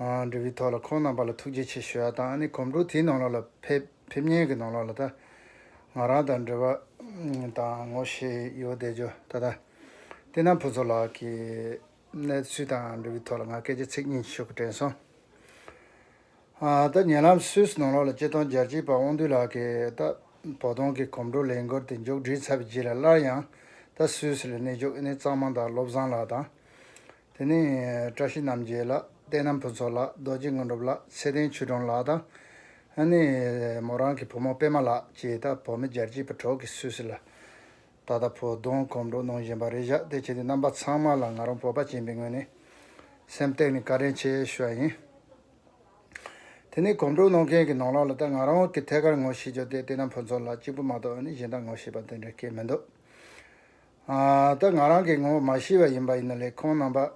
འབྲས་བུའི་ཐོག་ལ་ཁོང་རྣམ་པ་ལ་ཐུགས་རྗེ་ཆེ་ཞུ་བ་དང་ཨ་ནི་གོམ་འགྲོས་དེའི་ནང་ལོགས་ལ་ཕེབས་ཕེབས་ཉེན་གྱི་ནང་ལོགས་ལ་ད་ང་རང་དང་འབྲེལ་བ་དང་ངོ་ཤེས་ཡོད་བསྡད་ཅོ་ད་ད་བསྟེན་ན་ཕུན་ཚོགས་ལགས་ཀྱི་གནས་ཚུལ་དང་འབྲས་བུའི་ཐོག་ལ་ང་སྐད་ཆ་ཚིག་གཉིས་ཤོད་ཀྱི་དྲན་སོང་ད་ཉེ་ལམ་སུད་ནང་ལོགས་ལ་སྐྱེ་སྟོང་རྒྱལ་གཅེས་པ་དབང་འདུས་ལགས་ཀྱི་ད་བོ་དོང་གི་གོམ་འགྲོས་ལས་འགོར་ཏེ་མཇུག་བསྒྲིལ་ཚར་བའི་རྗེས་ལ་སླར་ཡང་ད་སུད་སི་ལ་གནས་བཅུག་ཨ་ནི་གཙང་མ་དང་བློ་བཟང་ལགས་དང་དེ་ནས་བཀྲ་ཤིས་རྣམ་རྒྱལ་ལགས་བསྟན་རྣམ་ཕུན་ཚོགས་ལགས་རྡོ་རྗེ་དངོས་གྲུབ་ལགས་ཚེ་བརྟན་ཆོས་སྒྲོན་ལགས་དང། ཨ་ནི་མོ་རང་གི་བུ་མོ་པད་མ་ལགས་བཅས་དང་བོད་མི་རྒྱལ་གཅེས་པ་གྲོགས་གིས་སུད་སི་ལ་ད་ལྟ་བོད་གདོང་གོམ་འགྲོ་གནོང་བཞིན་པ་རེད་བཞག་དེ་བྱས་ཏེ་རྣམ་པ་ཚང་མ་ལ་ང་རང་བོད་པ་ཅན་པའི་ངོས་ནས་སེམས་སྟེང་ནས་བཀའ་དྲིན་ཆེ་ཞུ་བ་ཡིན། དེ་ནས་གོམ་འགྲོ་གནོང་མཁན་གྱི་ནང་ལོགས་ལ་ད་ང་རང་གི་ཐད་ཀར་ངོ་ཤེས་རྒྱུ་དེ་བསྟན་རྣམ་ཕུན་ཚོགས་ལགས་གཅིག་པུ་མ་གཏོགས་ཨ་ནི་གཞན་དག་ངོ་ཤེས་པ་དེ་འདྲ་སྐད་མི་འདུག་ད་ང་རང་གི་ངོ་བོ་མ་ཤི་བ་ཡིན་པ་ཡིན་ན་ལས་ཁུངས་རྣམ་པ།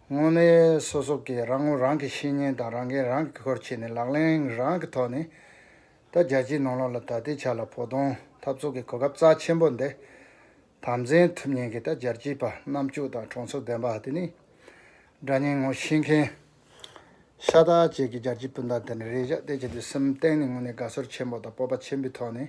དངོས་གནས་སོ་སོ་ཀྱིས་རང་ངོ་རང་གི་བཤེས་གཉེན་དང་རང་འགན་རང་གིས་འཁུར་བྱས་ནས་ལག་ལེན་རང་གི་ཐོག་ནས། ད་རྒྱལ་སྤྱིའི་ནང་ལོགས་ལ་ད་ལྟའི་ཆ་ལ་བོ་གདོང་འཐབ་ཚོགས་ཀྱི་གོ་སྐབས་རྩ་ཆེན་པོ་འདི་དམ་འཛིན་ཐུབ་ཉེན་གི་ད་རྒྱལ་སྤྱིའི་པ་སྣ་བཅུ་དང་གྲོང་ཚོ་བདེན་པ་དེ་ནི། དགྲ་གཉེན་ངོ་ཤེས་མཁན། ཤ་སྟག་བཅས་ཀྱི་རྒྱལ་སྤྱིའི་སྤུན་ཟླ་དེ་འདྲ་རེ་བཞག་སྟེ་བྱེད་དུས་སེམས་གཏིང་ནས་དངོས་གནས་དགའ་ཚོར་ཆེན་པོ་དང་སྤོབས་པ་ཆེན་པོའི་ཐོག་ནས།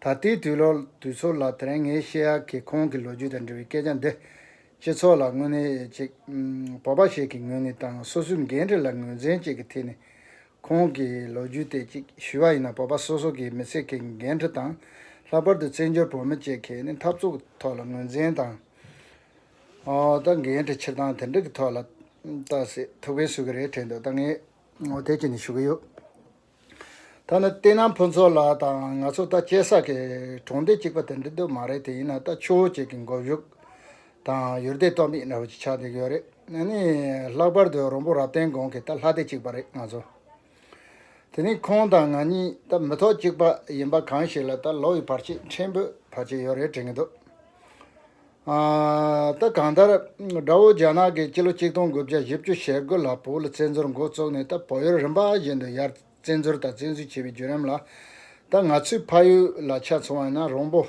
ད་ལྟའི་དུས་ལོ་དུས་ཚོད་ལ་དེ་རིང་ངས་བཤད་ཡ་གི་ཁོང་གི་ལོ་རྒྱུས་དང་འབྲེལ་བའི་སྐད་ཆ་འདི། སྤྱི་ཚོགས་ལ་དངོས་གནས་ཅིག། བོད་པ་ཞིག་གི་ངོས་ནས་དང་སོ་སོའི་འགན་འཁྲི་ལ་ངོས་འཛིན་བྱེད་ཀྱི་ཐད་ནས། ཁོང་གི་ལོ་རྒྱུས་དེ་ཅིག་ཞུས་པ་ཡིན་ན་བོད་པ་སོ་སོ་གི་མི་ཚེ་གི་འགན་འཁྲི་དང། ལྷག་པར་དུ་བཙན་བྱོལ་བོད་མི་བཅས་ཀྱི་ནི་འཐབ་རྩོད་ཀྱི་ཐོག་ལ་ངོས་འཛིན་དང། ད་འགན་འཁྲི་ཕྱིར་བཏང་དེ་འདྲ་གི་ཐོག་ལ། ལྟ་སྲིད་ཐུགས་ཕན་གསོས་ཀྱི་རེད་དྲན་འདུག་ད་ངས་དེ་ཅིག་ནི་ཞུ་གི་ཡོད། ཐ་ན་བསྟན་ནམ་ཕུན་ཚོགས་ལགས་དང་ང་ཚོ་ད་སྐྱེས་ས་གི་གྲོང་སྡེ་གཅིག་པ་དེ་འདྲ་དུ་མ་རེད་དེ་ཡིན་ན་ད་ཆུ་བོ་གཅིག་གི་མགོ་གཞུག་དང་ཡུལ་སྡེ་སྟོབས་མེད་འདྲ་བོ་ཅིག་ཆགས་འདུག་ཡོད་རེད་ན་ནི་ལྷག་པར་དུ་རོང་པོ་རབ་བརྟན་དགོན་གྱི་ད་ལྷ་སྡེ་གཅིག་པ་རེད་ང་ཚོ་དེ་རིང་ཁོང་དང་ང་གཉིས་ད་མི་ཐོག་གཅིག་པ་ཡིན་པ་གང་ཞིག་ལ་ད་ལོ་ཡི་བར་ཆད་ཕྲན་བུ་བར་ཆད་ཡོད་རེད་དྲན་གྱི་འདུག་ད་གང་ལྟར། དགྲ་བོ་རྒྱ་ནག་གིས་ཕྱི་ལོ་གཅིག་སྟོང་དགུ་བརྒྱ་བཞི་བཅུ་ཞེ་དགུ་ལ་བོད་ལ་བཙན་འཛུལ་མགོ་བཙུགས་ནས་ད་བོད་ཡུལ་རིམ་པ་བཞིན་དུ་ཡར་བཙན་འཛུལ་དང་བཙན་འཛུལ་བྱས་པའི་བརྒྱུད་རིམ་ལ། ད་ང་ཚོའི་ཕ་ཡུལ་ལ་ཆ་མཚོན་བ་ཡིན་ན་རོང་པོ།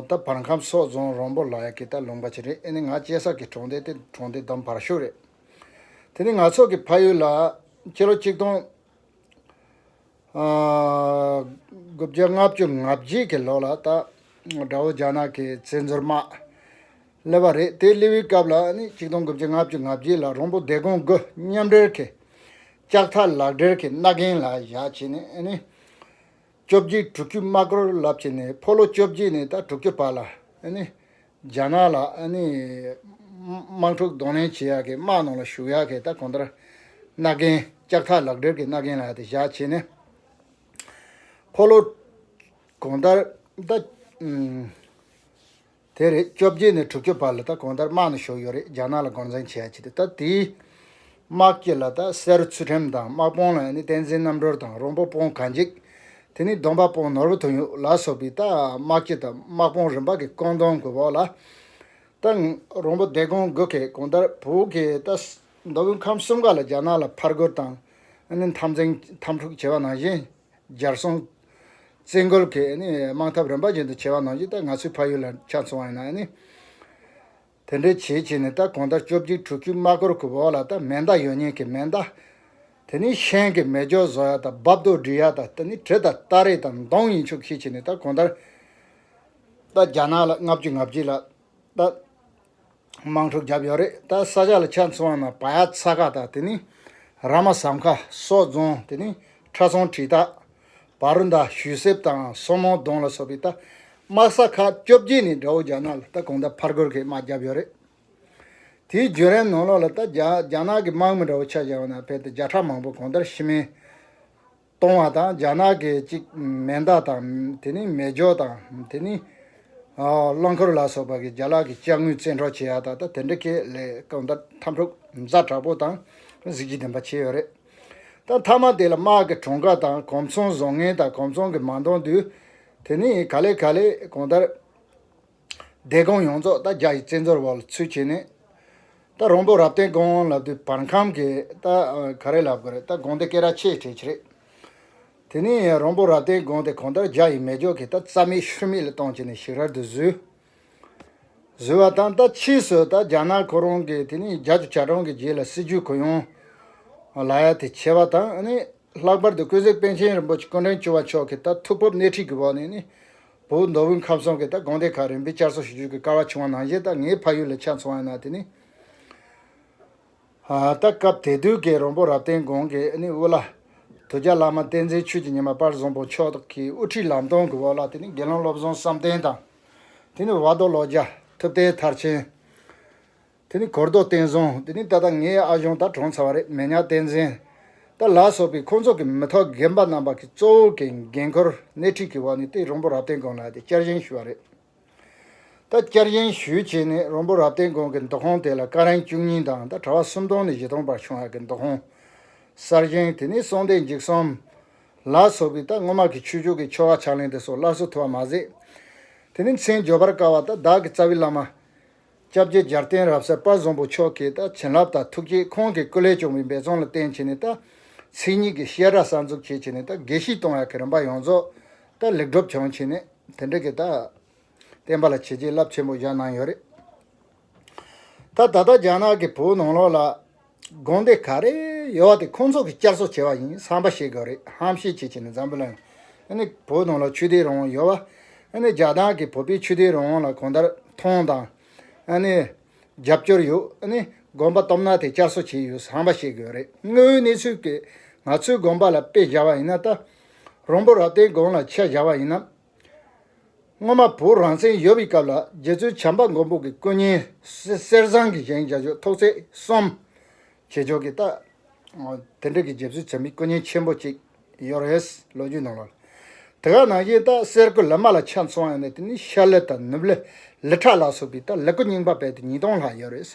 ད་བར་ཁམས་སོག་རྫོང་རོང་པོ་ལ་ཡ་གི་ད་ལུང་པ་ཆེ་རེད་ཨེ་ནི་ང་སྐྱེས་ས་གི་གྲོང་སྡེ་དེ་གྲོང་སྡེ་དམ་བར་ཤུག་རེད། དེ་ནི་ང་ཚོ་གི་ཕ་ཡུལ་ལ་ཕྱི་ལོ་གཅིག་སྟོང། དགུ་བརྒྱ་ལྔ་བཅུ་ང་བརྒྱད་ཀྱི་ལོ་ལ་ད་དགྲ་བོ་རྒྱ་ནག་གིས་བཙན་འཛུལ་དམག་སླེབས་པ་རེད་དེ་སླེབས་པའི་སྐབས་ལ་ནི་གཅིག་སྟོང་དགུ་བརྒྱ་ང་བཅུ་ང་བརྒྱད་ལ་རོང་པོ་སྡེ་དགོན་དགུ་མཉམ་འབྲེལ་གྱིས་ལྕགས་ཐག་ལག་སྦྲེལ་གྱིས་སྣ་རྒན་ལ་བཞག་བྱས་ནས་ནི། བཅོ་བརྒྱད་དྲུག་ཅུ་དམག་རོལ་རླབས་བྱས་ནས་ཕོ་ལོ་བཅོ་བརྒྱད་ནས་ད་དྲུག་ཅུ་བར་ལ་ནི། རྒྱ་ནག་ལ་ཨ་ནི། དམག་འཁྲུག་གདོང་ལེན་བྱེད་ཡག་གི་དམག་ནང་ལ་ཞུགས་ཡག་གི་ད་གོང་ལྟར། རྣ་རྒན། ལྕགས་ཐག་ལག་སྒྲིལ་གྱི་རྣ་རྒན་ལ་ཡ་དེ་བཞག་བྱས་ནས། འཁོར་ལོ། གོང་ལྟར། ད། དེ་རེད་བཅོ་བརྒྱད་ནས་དྲུག་ཅུ་བར་ལ་ད་གོང་ལྟར་དམག་ནང་ཞུགས་ཡོད་རེད་རྒྱ་ནག་ལ་སྒོར་འཛིང་བྱེད་ཡག་བྱས་ཏེ་ད་དེའི། དམག་སྐྱེད་ལ་དག་སེར་ཚུལ་ཁྲིམས་དང་དམག་དཔུང་ལ་ནི་བསྟན་འཛིན་རྣམ་གྲོལ་དང་རོང་པོ་དཔུང་ག་འཇིགས། དེ་ནི་སྡོམ་པ་དཔུང་ནོར་བུ་དོན་ཡོད་ལ་སོགས་པའི་དག་དམག་སྐྱེད་དང་དམག་དཔུང་རིམ་པ་གི་བཀོད་འདོམས་དགོས་པའོ། ལ་དག་རོང་པོ་སྡེ་དགོན་དགོས་གལ་གོང་ལྟར་བོད་ཀྱི་དག་མདོ་དབུས་ཁམས་གསུམ་ཀ་ལ་རྒྱ་ནག་ལ་ཕར་རྒོལ་དང་ནི་འཐབ་འཛིང་འཐབ་འཁྲུག་བྱེད་པ་ནང་བཞིན་སྦྱར་སྲུང། བཙན་རྒོལ་གྱི་ནི་དམག་འཐབ་རིམ་པ་བཞིན་དུ་བྱེད་པ་ནང་བཞིན་དག་ང་ཚོའི་ཕ་ཡུལ་ལ་ཆ་མཚུངས་བ་ཡིན་ན་ནི། དེ་འདྲའི་བྱེད་བྱེད་ནས་ད་གོང་ལྟར་བཅོ་བརྒྱད་དྲུག་ཅུའི་དམག་སྒོར་གྱི་འོག་ལ་ད་མེ་མདའ་ཡོད་ཉེས་ཀྱི་མེ་མདའ། དེ་ནི་ཤན་གྱི་མེ་སྒྱོགས་བཟོ་ཡག་དང་རྦབ་རྡོ་སྒྲིལ་ཡག་དང་ད་ནི་གྲི་དང་སྟ་རེ་དང་མདོང་ཡིན་ཆོག་གིས་བྱེད་ནས་ད་གོང་ལྟར་ད་རྒྱ་ནག་ལ་ལྔ་བཅུ་ང་བརྒྱད་ལ་ད་དམག་འཁྲུག་བརྒྱབ་ཡོད་རེད་ད་ས་ཆ་ལ་ཆ་མཚོན་བ་ན་བ་ཡ་ཚ་ཁ་དང་དེ་ནི་ར་མ་ཟམ་ཁ་སོགས་རྫོང་དེ་ནི་ཁྲ་ཚོང་གྲི་སྟག། བ་རུ་མདའ་ཞུས་གསེབ་དང་སོ་མོ་གདོང་ལ་སོགས་པའི་རྟ་དམག་ས་ཁག་བཅོ་བརྒྱད་ནས་དགྲ་བོ་རྒྱ་ནག་ལ་རྟ་གོང་ད་ཕར་རྒོལ་གྱི་དམག་བརྒྱབ་ཡོད་རེད། དེའི་བརྒྱུད་རིམ་ནང་ལོགས་ལ་རྟ་རྒྱ་ནག་གི་དམག་མི་དགྲ་བོ་ཆ་བཞག་ན་ཕལ་ཏེ་བརྒྱ་ཕྲག་མང་པོ་གོང་དར་ཤི་རྨས་གཏོང་བ་དང་རྒྱ་ནག་གི་གཅིག་མེ་མདའ་དང་དེ་ནི་མེ་སྒྱོགས་དང་དེ་ནི་རླངས་འཁོར་ལ་སོགས་པ་གིས་རྒྱ་ལག་གི་དཔྱ་དངུལ་བཙན་འཕྲོག་བྱེད་ཡག་ད་ལྟ་དེ་འདྲ་ཁེ་ལས་གང་ལྟར་འཐབ་འཁྲུག་མཛའ་དྲག་པོ་དང་གཟི་བརྗིད་ལྡན་པ་བྱས་ཡོད་རེད། ད་མཐའ་མ་དེ་ལ་དམག་གི་གྲོང་ཁ་དང་གོམ་ཚོང་བཟོ་ངན་དང་གོམ་ཚོང་གི་མ་མདོང་དུས་དེ་ནི་ག་ལེ་ག་ལེ་གང་ལྟར། སྡེ་ཁང་ཡོངས་རྫོགས་ད་རྒྱ་ཡི་བཙན་རྫོར་བ་ལ་ཚུད་བྱས་ནས། ད་རོང་པོ་རབ་བརྟན་དགོན་དབང་ལབ་དུས་བར་མཁམ་གི་ད་ག་རེ་ལབ་དགོས་རེད་ད་དགོན་དེ་སྐད་ར་ཆེས་གྲས་ཆེ་རེད། དེ་ནི་རོང་པོ་རབ་བརྟན་དགོན་དེ་གང་ལྟར་རྒྱ་ཡི་མེ་སྒྱོགས་ཀྱིས་ད་རྩ་མེད་ཤུལ་མེད་ལ་བཏང་བྱས་ནས་ཞིག་རར་དུ་བཟོས། བཟོས་བ་དང་ད་ཕྱིས་སུ་ད་རྒྱ་ནག་ཁོ་རང་གིས་དེ་ནས་རྒྱ་ཆེ་བྱ་གྲོང་གི་རྗེས་ལ་སྲིད་ཇུས་གུ་ཡངས་ལ་ཡ་དེ་བྱས་བ་དང་ནི་ལྷག་པར་དུ་ཀུན་གཟིགས་པན་ཆེན་རིན་པོ་ཆེ་ཀུན་དྲན་བཅུ་བ་མཆོག་གིས་ད་ཐུགས་ཕོབ་སྣེ་ཁྲིད་ཀྱི་འོག་ནས་ནི་བོད་མདོ་དབུས་ཁམས་གསུམ་གྱི་ད་དགོན་སྡེ་ཁག་རིམ་པས་བསྐྱར་གསོ་ཞུ་རྒྱུ་གི་སྐལ་བ་བྱུང་བ་ནང་བཞིན་ད་ངའི་ཕ་ཡུལ་ལ་ཆ་མཚོན་བ་ཡིན་ན་དེ་ནི། ད་སྐབས་དད་འདུས་ཀྱི་རོང་པོ་རབ་བརྟན་དགོན་གྱི་ཨ་ནེ་དབུ་བླ། དུ་རྒྱ་བླ་མ་བསྟན་འཛིན་ཆོས་ཀྱི་ཉི་མ་དཔལ་བཟང་པོ་མཆོག་གི་དབུ་ཁྲིད་ལམ་སྟོན་གྱི་འོག་ལ་དེ་ནས་དགེ་སློང་བློ་བཟང་བསམ་གཏན་དང། དེ་ནས་བ་རྡོ་བློ་རྒྱ་ཐུབ་བསྟན་མཐར་ཕྱིན། དེ་ནས་གོར་རྡོ་བསྟན་བཟང་དེ་ནས་ད་ལྟ་ངའི་ཨ་གཞོན་ད་གྲོངས་ཚར་བ་རེད་མེ་ཉག་བསྟན་འཛིན། ད་ལགས་སོགས་པའི་ཁོང་ཚོ་གི་མི་ཐོག་རྒན་པ་རྣམ་པ་གི་གཙོ་བོ་གི་འགན་ཁུར་སྣེ་ཁྲིད་ཀྱི་འོག་ནས་དེ་རོང་པོ་རབ་བརྟན་དགོན་ལ་དེ་བསྐྱར་བཞེངས་ཞུས་བ་རེད། ད་བསྐྱར་གཞན་ཞུས་བྱས་ནས་རོང་པོ་རབ་བརྟན་དགོན་གྱི་མདོ་ཁང་དེ་ལ་སྐ་རིང་བཅུ་གཉིས་དང་ད་གྲྭ་བ་སུམ་སྟོང་ནས་བཞི་སྟོང་བར་བྱུང་བ་གི་མདོ་ཁང། གསར་བཞེངས་དེ་ནི་སྲོང་བདེ་འཇིགས་གསུམ། ལ་སོགས་ཀྱི་ད་སྔོན་མ་གི་ཆོས་ཕྱོགས་ཀྱི་ཆོ་ག་ཕྱག་ལེན་དེ་སོགས་སླར་གསོ་ཐུབ་པ་མ་ཟད། དེ་ནི་མཚན་བརྗོད་པར་དཀའ་བ་ད་བདག་གི་རྩ་བའི་བླ་མ། སྐྱབས་རྗེ་འཇར་བསྟན་རབ་གསལ་དཔའ་བཟང་པོ་མཆོག་གིས་ད་བྱིན་རླབས་དང་ཐུགས་བསྐྱེད་ཁོང་གིས་སྐུ་ལས་བྱུང་བའི་འབད་རྩོང་ལ་བརྟེན་བྱས་ནས་ད་ཚེ་ཉིད་ཀྱི་ཤེས་རབ་གསར་འཛུགས་བྱས་བྱས་ནས་ད་དགེ་བཤེས་སྟོང་ཡ་གི་རིམ་པ་ཡོངས་རྫོགས་ད་ལེགས་གྲུབ་བྱུང་བྱས་ནས་དེ་འདྲ་གི་ད་བསྟན་པ་ལ་བྱས་རྗེས་རླབས་ཆེན་པོ་བཞག་གནང་ཡོད་རེད། ད་ད་ལྟ་རྒྱ་ནག་གི་བོད་ནང་ལོགས་ལ། དགོངས་དེ་ག་རེ་ཡོད་བ་དེ་ཁོང་ཚོ་གི་བསྐྱར་གསོ་བྱས་བ་ཡིན་བསམ་པ་ཞིག་དགོས་རེད་ཧམ་བཤད་བྱེད་བྱེད་ནས་འཛམ་བུ་གླིང་ནི་བོད་དོན་ལ་ཆོས་དད་རང་དབང་ཡོད་བ་ནི་རྒྱ་ནག་གི་བོད་པའི་ཆོས་དད་རང་དབང་ལ་གང་ལྟར་མཐོང་དང་ནི་རྒྱབ་སྐྱོར་ཡོད་ནི་དགོངས་པ་སྟོབས་ན་དེ་བསྐྱར་གསོ་བྱས་ཡོད་བསམ་པ་ཞིག་དགོས་རེད་དངོས་ཡོད་གནས་ཚུལ་གི་ང་ཚོའི་དགོངས་པ་ལ་དཔེ་བཞག་བ་ཡིན་ན་ད་རོང་པོ་རབ་བརྟན་དགོངས་ལ་ཆ་བཞག་བ་ཡིན་ནམ། སྔོན་མ་བོད་རང་བཙན་ཡོད་པའི་སྐབས་ལ་རྗེ་བཙུན་བྱམས་པ་མགོན་པོ་གི་སྐུ་བརྙན་གསེར་བཟང་གི་བཞེངས་བྱ་ཆོས་ཐོག་ཚད་གསུམ། བྱེད་ཕྱོགས་ཀྱི་རྟགས། དེ་འབྲེལ་གྱི་རྗེ་བཙུན་བྱམས་པའི་སྐུ་བརྙན་ཆེན་པོ་གཅིག་ཡོད་རེད། ལོ་རྒྱུས་ནང་ལ། དེ་ག་ནང་བཞིན་རྟགས་གསལ་སྐུ་ལི་མ་ལ་ཆ་མཚོན་ཡང་ན་དེ་ནི་ཤར་ལི་དང་ནུབ་ལི་ལི་ཕྲག་ལ་སོགས་པའི་རྟགས་ལི་སྐུ་རྙིང་པ་རྦད་དེ་ཉིས་སྟོང་ལྷག་ཡོད་རེད།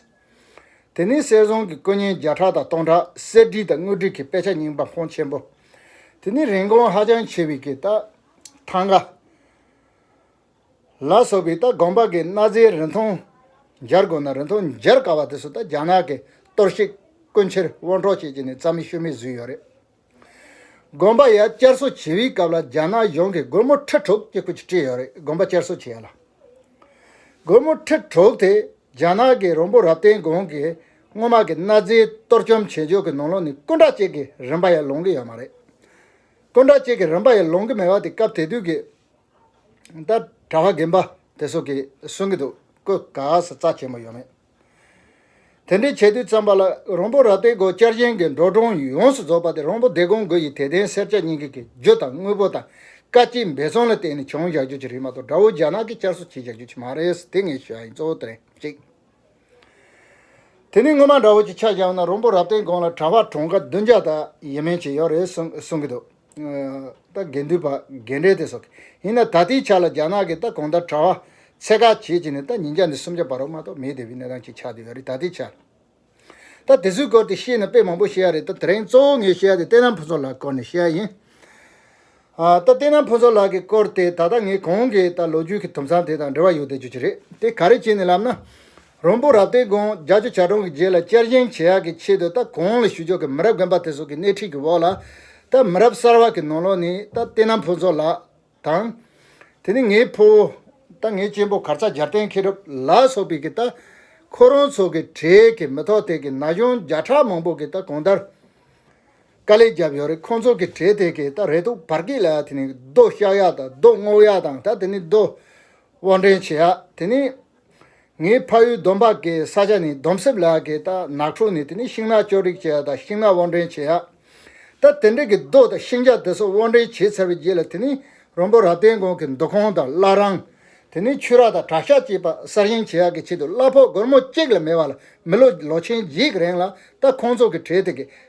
དེ་ནས་གསེར་བཟང་གི་སྐུ་བརྙན་བརྒྱ་ཕྲག་དང་སྟོང་ཕྲག་གསེར་བྲིས་དང་དངུལ་བྲིས་ཀྱི་དཔེ་ཆ་རྙིང་པ་འཕོངས་ཆེན་པོ། དེ་ནི་རིན་གོང་ཧ་ཅང་ཆེ་བའི་གི་རྟགས། ཐང་ག། ལ་སོགས་པའི་ལྟ་སྒོམ་པ་གི་གནའ་རྫས་རིན་ཐང་སྦྱར་དགོས་ན་རིན་ཐང་སྦྱར་དཀའ་བ་དེ་ཚོ་ད་རྒྱ་ནག་གི་གཏོར་བཤིག་སྐུ་འཁྱེར་དབོར་འཕྲོག་བྱེད་ཀྱི་ནི་རྩ་མེད་ཤུལ་མེད་བཟོས་ཡོད་རེད། དགོན་པ་ཡང་བསྐྱར་གསོ་བྱེད་པའི་སྐབས་ལ་རྒྱ་ནག་གཞུང་གིས་སྒོར་མོ་ཁྲི་དྲུག་ཅིག་པོ་ཅིག་སྤྲད་ཡོད་རེད་དགོན་པ་བསྐྱར་གསོ་བྱེད་ཡ་ལ། སྒོར་མོ་ཁྲི་དྲུག་དེ་རྒྱ་ནག་གི་རོང་པོ་རབ་བརྟན་དགོན་གྱི་སྔོན་མ་གི་གནའ་རྫས་གཏོར་བཅོམ་བྱེད་ཕྱོགས་ཀྱི་ནང་ལོགས་ནས་སྐུ་འདྲ་ཅིག་གི་རིན་པ་ཡང་ལོངས་ཀྱི་ཡོད་མ་རེད། སྟོང་ཕྲག་གཅིག་གི་རིམ་པ་ཡང་ལོང་གི་མེད་པ་དེ་སྐབས་དེ་དུས་ཀྱི་ད་གྲྭ་བ་རྒན་པ་དེ་སོགས་ཀྱིས་གསུང་གི་འདུག་ཀུ་ག་ས་རྩ་ཆེན་པོ་ཡོད་མེད་དེ་འདྲའི་བྱས་དུས་ཙམ་པ་ལ་རོང་པོ་ར་སྟེ་སྒོ་བསྐྱར་གཞན་གྱི་འབྲོག་གྲོང་ཡོངས་སུ་རྫོགས་པ་དེ་རོང་པོ་སྡེ་དགོན་དགུ་ཡི་དད་ལྡན་སེར་སྐྱ་གཉིས་ཀྱི་གྱི་རྒྱུ་དང་དངུལ་པོ་དང་བཀའ་སྤྱི་འབད་བརྩོན་ལ་བརྟེན་ནས་བྱུང་བཞག་རྒྱུ་གཅིག་རེད་མ་གཏོགས་དགྲ་བོ་རྒྱ་ནག་གིས་བསྐྱར་གསོ་བྱས་བཞག་རྒྱུ་གཅིག་མ་རེད་དེ་ངས་ཤོད་ཡིན་གཙོ་བོ་དེ་རེད་གཅིག། དེ་ནི་སྔོན་མ་འདྲ་བོ་ཅིག་ཆགས་ཀྱང་ན་རོང་པོ་རབ་བརྟན་དགོན་ལ་གྲྭ་བ་གྲོང་དགའ་བདུན་བརྒྱ་དང་ཡས་མས་ཅིག་ཡོད་རེད་གསུང་གི་འདུག་ད་དགེ་འདུན་པ་རྒན་གྲས་དེ་སོགས་ཀྱི་ཡིན་ན་ད་ལྟའི་ཆ་ལ་རྒྱ་ནག་གིས་ད་གོང་ལྟར་གྲྭ་བ་ཚད་བཀག་བྱེད་ཀྱི་ནས་ད་ཉིན་བརྒྱ་ནས་སུམ་བརྒྱ་བར་རོ་མ་གཏོགས་མེད་དེ་བས་གནས་སྟངས་ཅིག་ཆགས་འདུག་ཡོད་རེད་ད་ལྟའི་ཆར། ད་དེ་ཚོའི་སྐོར་དེ་ཤེས་ནས་དཔེ་མང་པོ་བཤད་ཡ་རེད་ད་དེ་རིང་གཙོ་བོ་ངས་བཤད་ཡ་དེ་བསྟན་རྣམ་ཕུན་ཚོགས་ལགས་སྐོར་ནས་བཤད་ཡ་ཡིན། ད་ལྟའི་ན་ཕུན་ཚོགས་ལགས་ཀྱི་སྐོར་དེ་ད་ལྟ་ངས་གོང་གི་ད་ལོ་རྒྱུས་ཀྱི་དུམ་ཚང་དེ་དང་འབྲེལ་བ་ཡོད་བསྡད་རྒྱུ་ཅི་རེད་དེ་ག་རེ་བྱས་ནས་ལབ་ན། རོང་པོ་རབ་སྟོན་དགོན་རྒྱ་ཆུ་བྱ་གྲོང་གི་རྗེས་ལ་བསྐྱར་བཞེངས་བྱེད་ཡག་གི་ཆེད་དུ་ད་གོང་ལ་ཞུ་ཕྱོགས་ཀྱི་མི་རབས་རྒན་པ་དེ་ཚོ་གི་སྣེ་ཁྲིད་ཀྱི་འོག་ལ་ད་མི་རབས་གསར་བ་གི་ནང་ལོགས་ནས་ད་ལྟའི་ན་ཕུན་ཚོགས་ལགས་དང། དེ་ནས་ངའི་ཕུ་བོ། ད་ངའི་གཅེན་པོ་གར་ཚག་སྦྱར་བསྟན་མཁས་གྲུབ་ལགས་སོགས་པའི་གི་ད་ཁོ་རང་ཚོ་གི་གྲས་ཀྱི་མི་ཐོག་ཐད་ཀྱི་ན་གཞོན་བརྒྱ་ཕྲག་མང་པོ་གི་ད་གོང་ལྟར། དཀའ་ལས་བརྒྱབ་ཡོད་རེད་ཁོང་ཚོ་གི་གྲས་དེ་གས་ད་རེ་ཐུག་བར་གིས་ལ་དེ་ནི་རྡོ་བཤའ་ཡག་དང་རྡོ་བསྔོག་ཡག་དང་ད་དེ་ནི་རྡོ་དབོར་འདྲེན་བྱེད་ཡག་དེ་ནི། ངའི་ཕ་ཡུལ་སྡོམ་པ་གའི་ས་ཆ་ནི་སྡོམ་གསེབ་ལ་གས་ད་ནགས་ཕྲུག་ནི་དེ་ནི་ཤིང་ནགས་གཅོད་རིགས་བྱེད་ཡག་དང་ཤིང་ནགས་དབོར་འདྲེན་བྱེད་ཡག་ད་དེ་འདྲེ་གི་རྡོ་དང་ཤིང་ཆ་དེ་ཚོ་དབོར་འདྲེན་བྱས་ཚར་བའི་རྗེས་ལ་དེ་ནི་རོང་པོ་ར་བརྟེན་དགོན་གི་མདོ་ཁང་དང་བླ་རང། དེ་ནི་ཆུ་རགས་དང་བྲག་ཤ་བཅས་པ་གསར་བཞེངས་བྱེད་ཡག་གི་ཆེད་དུ་གླ་ཕོགས་སྒོར་མོ་གཅིག་ལ་མེད་བ་ལ་མི་ལོ་ལོ་ཆེན་བརྗེས་གི་རེང་ལ་ད་ཁོང་ཚོ་གི་གྲས་དེ་གས་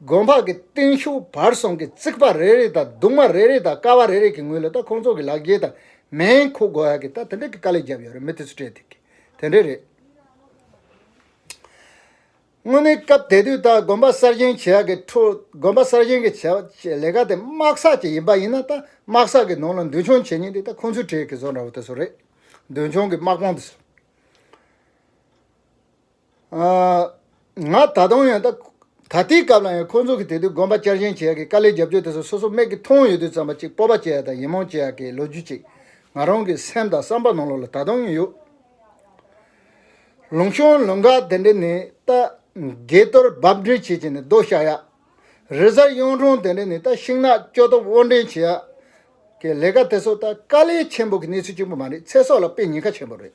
དགོན་འཕགས་ཀྱི་སྟེང་ཤུག་བར་གསུམ་གྱི་རྩིག་པ་རེ་རེ་དང་གདུང་མ་རེ་རེ་དང་ཀ་བ་རེ་རེ་གྱི་ངོས་ལ་ད་ཁོང་ཚོ་གི་ལག་འགྱེལ་དང་མེན་ཁུག་འགོ་ཡག་གི་ད་དེ་འདྲ་གི་དཀའ་ལས་རྒྱབ་ཡོད་རེད་མི་དེ་ཚོ་སྤྲད་དེ་གི་དེ་འདྲ་རེད། དངོས་གནས་སྐབས་དེ་དུས་ད་དགོན་པ་གསར་བཞེངས་བྱེད་ཡག་གི་ཁྲོ་དགོན་པ་གསར་བཞེངས་གི་བྱེད་བྱེད་ལས་ཀ་དེ་དམག་བསགས་ཀྱི་ཡིན་པ་ཡིན་ན་ད་དམག་བསགས་གི་ནང་ལ་མདུན་མཆོང་བྱེད་ཉིན་དེ་ད་ཁོང་ཚོའི་གྲས་གི་བཟོ་འདྲ་བོ་དེ་ཚོ་རེད་མདུན་མཆོང་གི་དམག་དཔུང་དེ་ཚོ། ང་ད་དུང་ཡང་ད་ལྟའི་སྐབས་ལ་ཡང་ཁོང་ཚོ་གི་དེ་དུས་དགོན་པ་བསྐྱར་བཞེངས་བྱས་ཀྱི་དཀའ་ལས་རྒྱབ་སྐྱོར་དེ་ཚོ་སོ་སོ་མེད་ཀྱི་མཐོང་ཡོད་དུས་ཙམ་པ་ཅིག་སྤོབས་པ་བསྐྱེད་ཡག་དང་ཡིད་སྨོན་བསྐྱེད་ཡག་གི་ལོ་རྒྱུས་ཅིག་ང་རང་གི་སེམས་དང་བསམ་པ་ནང་ལོགས་ལ་ད་དུང་ཡང་ཡོད། ལུང་གཤོང་ལུང་འགག་དེ་འདྲ་ནི་ད་འགས་གཏོར་རྦབ་འདྲེན་བྱེད་ཀྱི་ནི་རྡོ་བཤའ་ཡག། རི་གཟར་གཡུང་དྲུང་དེ་འདྲ་ནི་ད་ཤིང་ནགས་སྐྱོ་སྟོབས་དབོར་འདྲེན་བྱེད་ཡག་གི་ལས་ཀ་དེ་ཚོ་ད་དཀའ་ལས་ཆེན་པོ་གི་གནས་ཚུལ་གཅིག་པུ་མ་རེད་ཚེ་སྲོག་ལ་དཔེ་ཉེན་ཁ་ཆེན་པོ་རེད།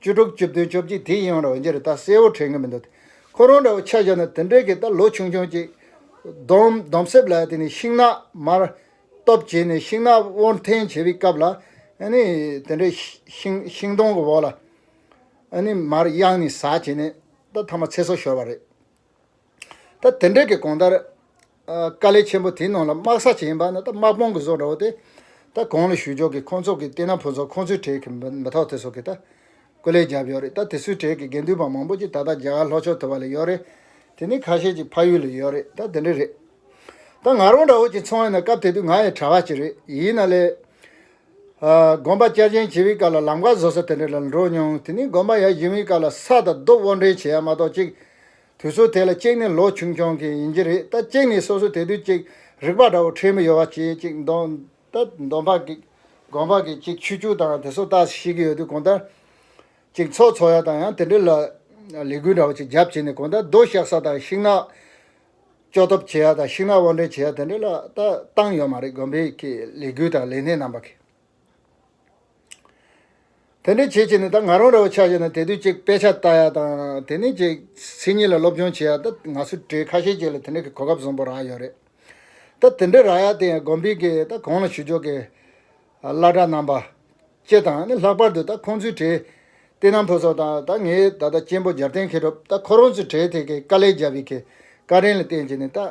བཅུ་དྲུག་བཅུ་བདུན་བཅོ་བརྒྱད་དེའི་ཡང་རོ་འདི་རུ་ད་གསལ་བོར་དྲན་གི་མི་འདུག་ཁོ་རང་འདྲ་བོ་ཆ་བཞག་ན་དེ་འདྲའི་གི་ད་ལོ་ཆུང་ཆུང་ཅིག། སྡོམ་སྡོམ་གསེབ་ལ་དེ་ནི་ཤིང་ནགས་མར། སྟོབས་བྱས་ནས་ཤིང་ནགས་དབོར་འཐེན་བྱེད་པའི་སྐབས་ལ། ནི། དེ་འདྲའི་ཤིང་ཤིང་སྡོང་གི་འོག་ལ། ནི་མར་གཡང་ནས་ཟ་བྱས་ནས་ད་ཐ་མ་ཚེ་སྲོག་ཤོར་བ་རེད། ད་དེ་འདྲའི་གི་གོང་ལྟར། དཀའ་ལས་ཆེན་པོ་དེའི་ནང་ལ་དམག་ས་ཅན་ཡིན་པ་ནི་ད་དམག་དཔུང་གི་བཟོ་འདྲ་བོ་དེ། ད་གང་ལ་ཞུ་ཆོག་གི་ཁོང་ཚོ་གི་བསྟན་ན་ཕོ་ཚོ་ཁོང་ཚོའི་གྲས་ཀི་མི་ཐོག་དེ་ཚོ་གི་ད། སྐུ་ལས་རྒྱབ་ཡོད་རེད་ད་དེ་ཚོའི་གྲས་ཀི་དགེ་འདུན་པ་མང་པོ་ཅིག་ད་ད་རྒྱ་གར་ལྷོ་ཕྱོགས་དེ་བ་ལ་ཡོད་རེད། དེ་ནི་ཁ་ཤས་ཅིག་ཕ་ཡུལ་ལ་ཡོད་རེད་ད་དེ་འདྲའི་རེད། ད་ང་རང་འདྲ་བོ་ཅིག་ཚོང་ཡིན་ན་སྐབས་དེ་དུས་ང་ཡི་གྲྭ་བ་ཅིག་རེད་ཡིན་ན་ལས། དགོན་པ་བསྐྱར་བཞེངས་བྱེད་པའི་སྐབས་ལ་ལམ་ཀ་བཟོ་ས་དེ་འདྲ་ལ་འགྲོ་མྱོང་དེ་ནི་དགོན་པ་ཡར་བཞེངས་པའི་སྐབས་ལ་ས་ད་གདུབ་དབོར་འདྲེན་བྱེད་ཡ་མ་གཏོགས་ཅིག། དུས་ཚོད་དེ་ལ་གཅིག་ནི་ལོ་ཆུང་ཆུང་གི་ཡིན་གྱི་རེད་ད་གཅིག་ནི་སོ་སོ་དེ་དུས་གཅིག་རིག་པ་འདྲ་བོ་ཁྲེལ་མི་ཡོད་བ་བྱེད་ཅིག་འདོན། ད་འདོན་པ་གིས་དགོན་པ་གིས་གཅིག་ཆུ་ཆུ་དང་དེ་སོ་ལྟ་ཤེས་ཀྱི་ཡོད་དུས་གོང་ལྟར། གཅིག་ཚོགས་འཚོགས་ཡ་དང་ཡང་དེ་འདྲའི་ལ་ལས་འགུལ་འདྲ་བོ་ཅིག་རྒྱབ་བྱས་ནས་གོང་ལྟར་རྡོ་བཤགས་ས་དང་ཤིང་ནགས་གཅོག་ཐབས་བྱེད་ཡ་དང་ཤིང་ནགས་དབོར་འདྲེན་བྱེད་ཡ་དེ་འདྲའི་ལ་ལྟ་བཏང་ཡོད་མ་རེད་དགོན་པའི་ལས་འགུལ་དང་ལས་སྣེ་རྣམ་པ་གིས། དེ་འདྲའི་བྱེད་བྱེད་ནས་ད་ང་རང་རེ་བ་ཆགས་བྱས་ན་དེ་དུས་གཅིག་དཔེ་ཆ་ལྟ་ཡག་དང་དེ་ནས་གཅིག་མཚན་ཉིད་ལ་སློབ་སྦྱོང་བྱེད་ཡག་ད་ང་ཚོའི་གྲས་ཁ་ཤས་ཅིག་ལ་དེ་འདྲའི་གོ་སྐབས་བཟང་པོ་རག་ཡོད་རེད་ད་དེ་འདྲའི་རག་ཡག་དེ་ཡང་དགོན་པའི་གི་ད་གང་ལ་ཞུ་ཕྱོགས་ཀྱི་བླ་གྲྭ་རྣམ་པ་བཅས་དང་ནི་ལྷག་པར་དུ་ད་ཁོང་ཚོའི་གྲས་བསྟན་ནམ་ཕུན་ཚོགས་དང་ད་ངའི་ད་ལྟ་གཅེན་པོ་འཇར་བསྟན་མཁས་གྲུབ་ད་ཁོ་རང་ཚོའི་གྲས་དེ་གི་དཀའ་ལས་རྒྱབ་ཡི་གི་བཀའ་དྲིན་ལ་བརྟེན་བྱས་ནས་ད།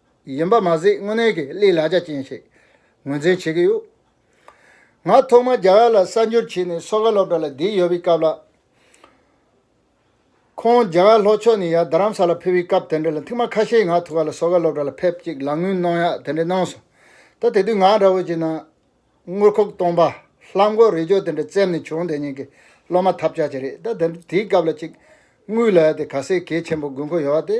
ཡིན་པ་མ་ཟད་དངོས་གནས་ཀྱི་གླེང་ལ་རྒྱ་ཅན་ཞིག་ངོས་འཛིན་བྱེད་ཀྱི་ཡོད། ང་ཐོག་མར་རྒྱ་གར་ལ་གསར་འབྱོར་བྱས་ནས་སོ་ཁ་སློབ་གྲྭ་ལ་བསྡད་ཡོད་པའི་སྐབས་ལ། ཁོང་རྒྱ་གར་ལྷོ་ཕྱོགས་ནས་ཡར་རྡ་རམ་ས་ལར་ཕེབས་པའི་སྐབས་དེ་འདྲ་ལ་མཐིང་མ་ཁ་ཤས་ང་ཐུག་ག་ལ་སོ་ཁ་སློབ་གྲྭ་ལ་ཕེབས་ཅིག་ལག་དངུལ་གནང་ཡག་དེ་འདྲ་གནང་སོང། ད་དེ་དུས་ང་འདྲ་བོ་ཅིག་ན། དངུལ་ཁུག་སྟོང་པ། ལྷམ་མགོ་རེ་ཅོ་དེ་འདྲ་བཙེམ་ནས་བྱུང་དེ་ཉིན་གྱི་སློབ་མ་ཐབས་ཆག་ཅིག་རེད་ད། དེའི་སྐབས་ལ་ཅིག་དངུལ་ལ་ཡ་དེ་ག་ཟེ་གལ་ཆེན་པོ་དགོས་མཁོ་ཡོད་པ་དེ།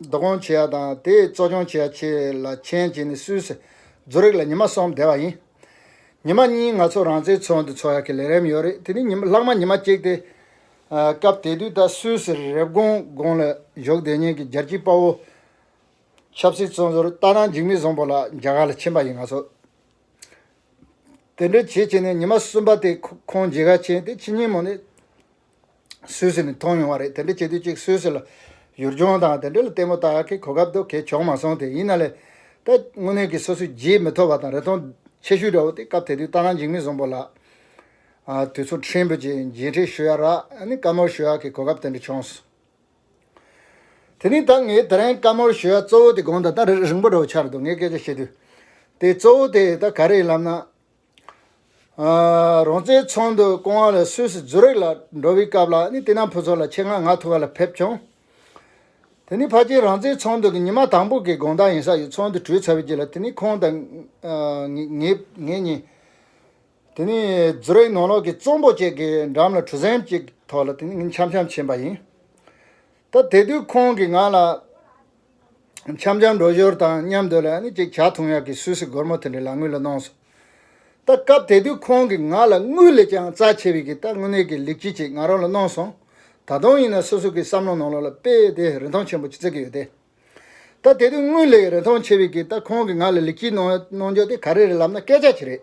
བསྡུ་སྐོང་བྱེད་ཡ་དང་དེ་གཙོ་སྐྱོང་བྱེད་ཡ་བཅས་ལ་མཆན་བྱིན་ནས་སུས་སུ་རྫུ་རེག་ལ་ཉི་མ་གསུམ་བསྡད་པ་ཡིན། ཉི་མ་གཉིས་ང་ཚོ་རང་བཙན་འཚོལ་འདུ་འཚོལ་ཡ་གི་ལས་རེམ་ཡོད་རེད་དེ་ནི་ལྷག་མ་ཉི་མ་གཅིག་སྟེ། སྐབས་དེ་དུས་ད་སུས་སུ་རེབ་གོང་དགོང་ལ་བཞུགས་བདེ་ཉིན་གི་རྒྱལ་སྤྱིའི་དཔའ་བོ། ཆབ་སྲིད་བཙོན་ཟུར་རྟ་ནང་འཇིགས་མེད་བཟང་པོ་ལགས་རྒྱ་གར་ལ་ཕྱིན་པ་ཡིན་ང་ཚོ། དེ་འདྲ་བྱེད་བྱེད་ནས་ཉི་མ་གསུམ་པ་དེ་ཁོང་མཇལ་ཁ་བྱས་དེ་ཕྱི་ཉིན་མོ་ནས། སུད་སི་ནས་མཐོང་ཡོང་བ་རེད་དེ་འདྲ་བྱེད་དུས་གཅིག་སུད་སི་ལ་ཡུལ་ལྗོངས་དང་དེ་འབྲེལ་ལྟད་མོ་ལྟ་མཁན་གོ་སྐབས་འདུག་གལ་ཆོག་མ་སོང་དེ་ཡིན་ན་ལས་ད་དངོས་གནས་ཀྱི་སོ་སོའི་རྗེས་མི་ཐོབ་པ་དང་རེ་སྟོང་ཆེ་ཤོས་འདྲ་བོ་སྟེ་སྐབས་དེ་དུས་རྟ་རྐང་འཇིགས་མེད་བཟང་པོ་ལགས། དུས་ཚོད་ཕྲན་བུ་རྗེས་མཇལ་འཕྲད་ཞུ་ཡ་རག་ནི་བཀའ་མོལ་ཞུ་ཡ་གི་གོ་སྐབས་དེ་འདྲ་བྱུང་སོང། དེ་ནི་ད་ངས་དེ་རིང་བཀའ་མོལ་ཞུ་ཡ་གཙོ་བོ་དེ་དགོངས་དོན་ད་རེ་རིང་པོ་འདྲ་བོ་འཆར་འདུག་ངས་སྐད་ཆ་བཤད་དུས་དེ་གཙོ་བོ་དེ་ད་ག་རེ་ཡིན་ལབ་ན། རོང་བཙན་ཚང་དུ་ཀོང་ཨ་ལ་སུད་སི་ཛུ་རིག་ལ་འགྲོ་བའི་སྐབས་ལ་ནི་དེ་རྣམས་ཕུན་ཚོགས་ལ་ཆེད་མངགས་ང་ཐུག་ག་ལ་ཕེབས་བྱུང། དེ་ནི་ཕ་ཁྱིམ་རང་བཙན་ཚང་དུ་གི་ཉི་མ་དང་པོ་གི་དགོངས་དག་ཡིན་ས་ཡོད་ཚང་དུ་བྲོས་ཚར་བའི་རྗེས་ལ་དེ་ནི་ཁོང་དང། ངེད་གཉིས། དེ་ནི་ཛུ་རིག་ནང་ལོགས་ཀྱི་རྩོམ་པོ་བཅས་ཀྱི་འགྲམ་ལ་གྲུ་གཟེངས་ཅིག་ཐོག་ལ་དེ་ནི་ངེད་འཆམ་འཆམ་བྱིན་པ་ཡིན། ད་དེ་དུས་ཁོང་གིས་ང་ལ། འཆམ་འཆམ་འགྲོ་ཞོར་དང་མཉམ་སྡོད་ལ་ནི་ཅིག་བྱ་ཐུང་ཡག་གི་སུད་སི་སྒོར་མོ་དེ་འདྲ་ལག་དངུལ་ལ་གནོངས་སོ། ད་སྐབས་དེ་དུས་ཁོང་གིས་ང་ལ་དངུལ་ལས་ཀྱང་རྩ་ཆེ་བས་ཀྱི་ད་དངུལ་གནས་ཀྱི་ལེགས་སྐྱིད་ཅིག་ང་རང་ལ་གནོངས་སོང། ད་དུང་ཡིན་ན་སོ་སོ་གིས་བསམ་བློ་ནང་ལོག་ལ་དཔེ་དེ་རིན་ཐང་ཆེན་པོ་ཅིག་བརྩི་གི་ཡོད་དེ། ད་དེ་དུས་དངུལ་ལས་རིན་ཐང་ཆེ་བས་ཀྱི་ད་ཁོང་གིས་ང་ལ་ལེགས་སྐྱིད་གནོངས་གནོངས་རྒྱུ་དེ་ག་རེ་རེད་ལབ་ན་སྐད་ཆ་ཅིག་རེད།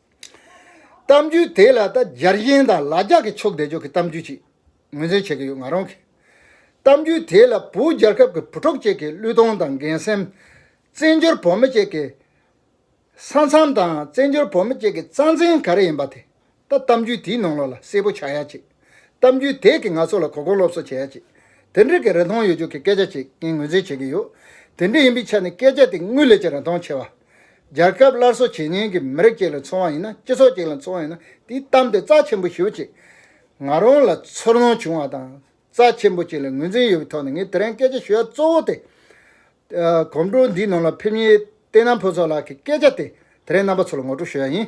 གཏམ་རྒྱུད་དེ་ལ་ད་རྒྱར་གཞན་དང་ལ་རྒྱ་གི་ཕྱོགས་བདེ་འཇོག་གི་གཏམ་རྒྱུད་ཅིག་ངོས་འཛིན་བྱེད་ཀྱི་ཡོད་ང་རང་གིས་གཏམ་རྒྱུད་དེ་ལ་བོུ་རྒྱལ་ཁབ་ཀྱི་བུ་གྲོགས་བཅས་ཀྱི་བློས་གཏོང་དང་འགན་སེམས། བཙན་བྱོལ་བོད་མི་བཅས་ཀྱི་ས་མཚམས་དང་བཙན་བྱོལ་བོད་མི་བཅས་ཀྱི་རྩ་འཛིན་ག་རེ་ཡིན་པ་དེ་ད་གཏམ་རྒྱུད་དེའི་ནང་ལོགས་ལ་གསལ་པོ་ཆགས་ཡ་ཅིག་གཏམ་རྒྱུད་དེ་གིས་ང་ཚོ་ལ་གོ་སྐོན་སློབ་གསོ་བྱེད་ཡ་ཅིག་དེ་འདྲིས་ཀྱི་རིན་ཐང་ཡོད་རྒྱུ་གི་སྐད་ཆ་ཅིག་ངས་ངོས་འཛིན་བྱེད་ཀྱི་ཡོད་དེ་འདྲི་ཡིན་པའི་ཆ་ནས་སྐད་ཆ་དེ་དངུལ་ལས་ཀྱི་རིན་ཐང་ཆེ་བ། རྒྱལ་ཁབ་སླར་གསོ་བྱེད་ཉེན་གྱི་མི་རིགས་ཅིག་ལ་འཚོ་བ་ཡིན་ན་སྤྱི་ཚོགས་ཅིག་ལ་འཚོ་བ་ཡིན་ན་དེའི་གཏམ་དེ་རྩ་ཆེན་པོ་ཞུ་ཅིག། ང་རང་ལ་ཚོར་སྣང་བྱུང་བ་དང་རྩ་ཆེན་པོ་ཅིག་ལ་ངོས་འཛིན་ཡོད་པའི་ཐོག་ནས་ངས་དེ་རིང་སྐད་ཆ་ཞུ་ཡ་གཙོ་བོ་དེ། གོམ་བགྲོད་འདིའི་ནང་ལ་ཕེབས་མྱེད་བསྟན་ནམ་ཕུན་ཚོགས་ལགས་ཀྱི་སྐད་ཆ་དེ་དེ་རིང་རྣམ་པ་ཚོ་ལ་ངོ་སྤྲོད་ཞུ་ཡ་ཡིན།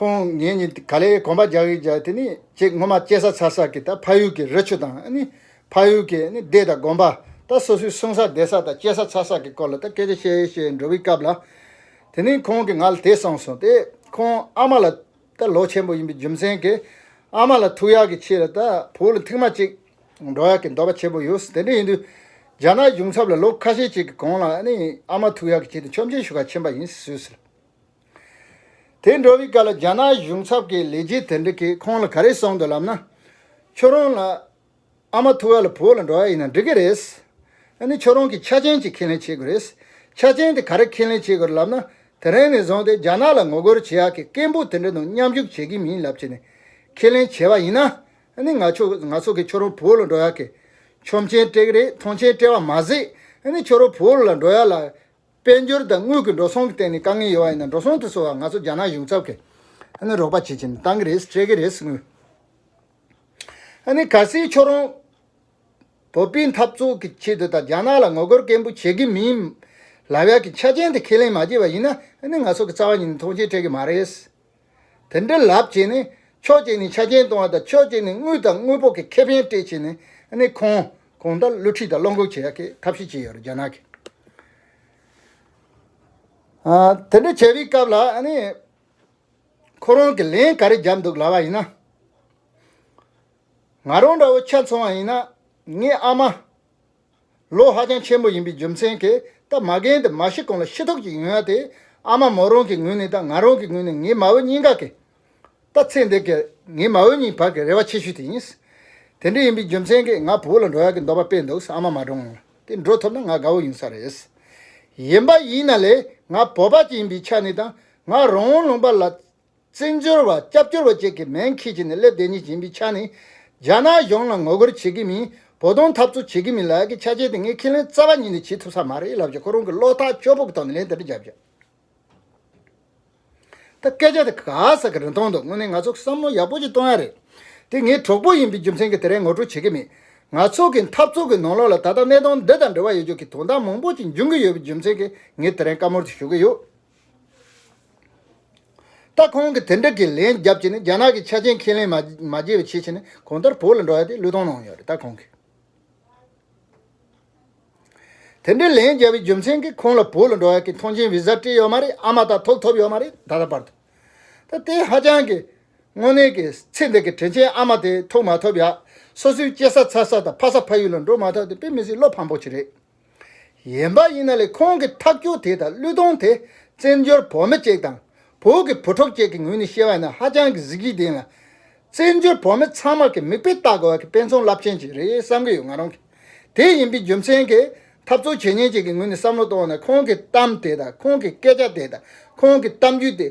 ཁོང་ངེད་གཉིས་ག་ལེར་གོམ་པ་རྒྱག་གིན་རྒྱག་གིན་དེ་ནས་ཅིག་སྔོན་མ་སྐྱེས་ས་ཚར་ས་ཀྱི་ད་ཕ་ཡུལ་གྱི་རི་ཆུ་དང་ཕ་ཡུལ་གྱི་སྡེ་དང་དགོན་པ་ད་སོ་སོའི་སྲུང་ས་བསྡད་ས་དང་སྐྱེས་ས་ཚར་ས་ཀྱི་སྐོར་ལ་ད་སྐད་ཆ་བཤད་བཤད་འགྲོ་བའི་སྐབས་ལ། དེ་ནས་ཁོང་གིས་ང་ལ་དེ་གསུངས་སོང་སྟེ་ཁོང་ཨ་མ་ལ་ད་ལོ་ཆེན་པོ་ཡིན་པའི་རྒྱུ་མཚན་གྱིས་ཨ་མ་ལ་ཐུག་ཡག་གི་ཆེད་ལ་ད་བུ་ལ་མཐིང་མ་ཅིག་འགྲོ་ཡག་གི་འདོད་པ་ཆེན་པོ་ཡོད་དེ་འདྲ་ཡིན་དུས་རྒྱ་ནག་གཞུང་ཚབ་ལ་ལོ་ཁ་ཤས་ཅིག་གི་གོང་ལ་ཨ་མ་ཐུག་ཡག་གི་ཆེད་དུ་མཆོད་མཇལ་ཞུ་ཁ་ཕྱིན་པ་ཡིན་ཟོས་ཟེར། དེ་འགྲོ་བའི་སྐབས་ལ་རྒྱ་ནག་གཞུང་ཚབ་ཀྱི་ལས་བྱེད་དེ་འདྲ་གིས་ཁོང་ལ་ག་རེ་གསུངས་འདུག་ལབ་ན། ཁྱོད་རང་ལ་ཨ་མ་ཐུ་བ་ལ་བུ་ལ་འགྲོ་བ་ཡིན་ན་འགྲིག་གི་རེད། ཨ་ནི་ཁྱོད་རང་གིས་ཆ་ཅན་ཅིག་ཁས་ལེན་བྱེད་དགོས་རེད། ཆ་ཅན་དེ་ག་རེ་ཁས་ལེན་བྱེད་དགོས་རེད་ལབ་ན། དེ་རིང་ནས་བཟུང་སྟེ་རྒྱ་ནག་ལ་ངོ་རྒོལ་བྱེད་ཡག་གི་སྐད་འབོད་དེ་འདྲ་དང་མཉམ་ཞུགས་བྱེད་ཀྱི་མིན་ལབ་བྱས་ནས་ཁས་ལེན་བྱས་པ་ཡིན་ན། ཨ་ནི་ང་ཚོ་གིས་ཁྱོད་རང་བུ་ལ་འགྲོ་ཡག་གི་ཆོམ་ཆེན་སྤྲད་གི་རེད་ཐང་ཆེན་སྤྲད་པ་མ་ཟད། ཨ་ནི་ཁྱོད་རང་བུ་ལ་འགྲོ་ཡག་ལ། དཔལ་འབྱོར་དང་དངུལ་གྱི་འགྲོ་སོང་གི་སྟེང་ནས་དཀའ་ངལ་ཡོད་ཡིན་ན་འགྲོ་སོང་དུ་སོང་བ་ང་ཚོ་རྒྱ་ནག་གཞུང་ཚབ་ཀྱིས་རོགས་པ་བྱེད་ཀྱི་མི་གཏང་གི་རེད་སྤྲད་ཀྱི་རེད་དངུལ་ག་སེའི་ཕྱོགས་རོང་བོད་པའི་འཐབ་རྩོད་ཀྱི་ཆེད་དུ་དང་རྒྱ་ནག་ལ་ངོ་རྒོལ་སྐད་འབོད་བྱེད་ཀྱི་མིན། ལབ་ཡག་གི་ཆ་རྐྱེན་དེ་ཁས་ལེན་མ་བྱས་པ་ཡིན་ན་ང་ཚོ་གི་རྩ་བ་ཉིད་ནས་མཐོང་ཆེན་སྤྲད་ཀྱི་མ་རེད། དེ་འདྲ་ལབ་བྱས་ནས་ཕྱོགས་གཅིག་ནས་ཆ་རྐྱེན་གཏོང་བ་དང་ཕྱོགས་གཅིག་ནས་དངུལ་དང་དངོས་པོ་གི་ཁེ་ཕན་སྤྲད་བྱས་ནས་ནི་ཁོང་གོང་ལྟར་བསླུ་ཁྲིད་དང་བློ་འགུག་བྱེད་ཀྱི་ཐབས་ཤེས་བྱས་ཡོད་རྒྱ་ནག་གིས། དེ་འདྲ་བྱས་པའི་སྐབས་ལ་ནི་ཁོ་རང་གིས་ལན་ག་རེ་བརྒྱབ་འདུག་ལབ་པ་ཡིན་ན། ང་རང་འདྲ་བོ་ཆ་མཚུངས་བ་ཡིན་ན་ངའི་ཨ་མ། ལོ་ཧ་ཅང་ཆེན་པོ་ཡིན་པའི་རྒྱུ་མཚན་གྱིས་ད་མ་རྒན་དེ་མ་ཤི་གོང་ལ་ཤི་ཐོག་ཅིག་ཡོང་ཡ་དེ་ཨ་མ་མོ་རང་གི་ངོས་ནས་དང་ང་རང་གི་ངོས་ནས་ངའི་མ་བུ་གཉིས་ཀ་གིས་ད་ཚེ་འདས་ཀྱི་ངའི་མ་བུ་གཉིས་བར་གྱི་རེ་བ་ཆེ་ཤོས་དེ་ཡིན། དེ་འདྲ་ཡིན་པའི་རྒྱུ་མཚན་གྱིས་ང་བུ་ལ་འགྲོ་ཡག་གི་འདོད་པ་སྤེལ་འདུག་ཨ་མ་མ་འགྲོ་ངང་ལ་དེ་འགྲོ་ཐུབ་ན་ང་དགའ་བོ་ཡིན་ས་རེད། ཡིན་པ་ཡིན་ན་ལས་ང་བོད་པ་ཅིག་ཡིན་པའི་ཆ་ནས་དང་ང་རང་ལུང་པ་ལ་བཙན་བྱོལ་བ་སྐྱབས་བཅོལ་བ་བཅས་ཀྱི་མེན་ཁྱི་བྱས་ནས་སླེབས་བསྡད་ཉེས་ཅན་པའི་ཆ་ནས། རྒྱ་ནག་གཞུང་ལ་ངོ་རྒོལ་བྱེད་ཀྱི་མིན་བོ་དོང་འཐབ་རྩོད་བྱེད་ཀྱི་མིན་ལགས་ཀྱི་ཆ་བྱས་ཏེ་ངས་ཁས་ལེན་རྩ་བ་ཉིད་ནས་བྱེད་ཐུབ་ས་མ་རེད་ལབ་ཀྱི་ཁོ་རང་གི་བློ་ཐག་ཆོད་པོ་གི་ཐོག་ནས་ལན་དེ་འདྲ་བརྒྱབ་ཀྱི། ད་སྐད་ཆ་དེ་ག་ས་ག་རེ་གཏོང་འདུག་དངོས་གནས་ང་ཚོ་བསམ་བློ་ཡག་པོ་ཅིག་གཏོང་ཡ་རེད་དེ་ངའི་གྲོགས་པོ་ཡིན་པའི་རྒྱུ་མཚན་གྱི་དེ་རིང་ངོ་སྤྲོད་བྱེད་ཀྱི་མེད། ང་ཚོ་གི་འཐབ་རྩོད་ཀྱི་ནང་ལོགས་ལ་ད་ལྟ་གནས་སྟངས་འདི་དང་འབྲེལ་བ་ཡོད་ཅོག་གི་དོན་དག་མང་པོ་ཅིག་འབྱུང་གི་ཡོད་པའི་རྒྱུ་མཚན་གྱི་ངས་དེ་རིང་བཀའ་མོལ་དེ་ཞུ་གི་ཡོད། ད་ཁོང་གིས་དེ་འདྲ་གི་ལན་རྒྱབ་ཀྱི་ནི་རྒྱ་ནག་གི་ཆ་རྐྱེན་ཁས་ལེན་མ་བགྱིས་པའི་ཕྱིར་ཕྱིན་ནས་གོང་ལྟར་བོད་ལ་འགྲོ་ཡ་དེ་བློས་གཏོང་གནང་ཡོད་རེད་ད་ཁོང་གིས། དེ་འདྲའི་ལན་རྒྱབ་པའི་རྒྱུ་མཚན་གིས་ཁོང་ལ་བོད་ལ་འགྲོ་ཡ་གི་མཐོང་མཆན Visa སྤྲད་ཡོད་མ་རེད་ཨ་མ་ད་ཐོབ་ཐོབ་ཡོད་མ་རེད་ད་ལྟ་བར་དུ། ད་དེ་ཧ་ཅང་གི་དངོས་གནས་ཀྱི་ཚེ་འདི་གི་དྲིན་ཆེན་ཨ་མ་དེ་ཐུག་མ་ཐུབ་ཡ་སོ་སོའི་སྐྱེ་ས་འཚར་ས་དང་ཕ་ས་ཕ་ཡུལ་ལ་འགྲོ་མ་ཐུབ་དེ་དཔེ་མི་སྲིད་བློ་ཕམ་པོ་ཆེ་རེད། ཡན་པ་ཡིན་ན་ལས་ཁོང་གི་ཐག་སྐྱོ་དེ་དང་གླུད་གཏོང་དེ་བཙན་འབྱོར་བོ་མི་བཅས་དང་བོ་གི་བུ་ཕྲུག་བཅས་ཀྱི་ངོས་ནས་བཤད་བ་ནི་ཧ་ཅང་གི་གཟི་བརྗིད་ལྡན་ལ། བཙན་འབྱོར་བོ་མི་ཚང་མར་གི་མིག་དཔེ་བལྟ་དགོས་བ་གི་དཔེ་མཚོན་རླབས་ཆེན་ཞིག་རེད་བསམ་གི་ཡོད་ང་རང་གིས་དེ་ཡིན་པའི་རྒྱུ་མཚན་གིས་འཐབ་རྩོད་བྱེད་ཉེན་བཅས་ཀྱི་ངོས་ནས་བསམ་བློ་གཏོང་བ་ནི་ཁོང་གི་གཏམ་དེ་དང་ཁོང་གི་སྐད་ཆ་དེ་དང་ཁོང་གི་གཏམ་རྒྱུད་དེ།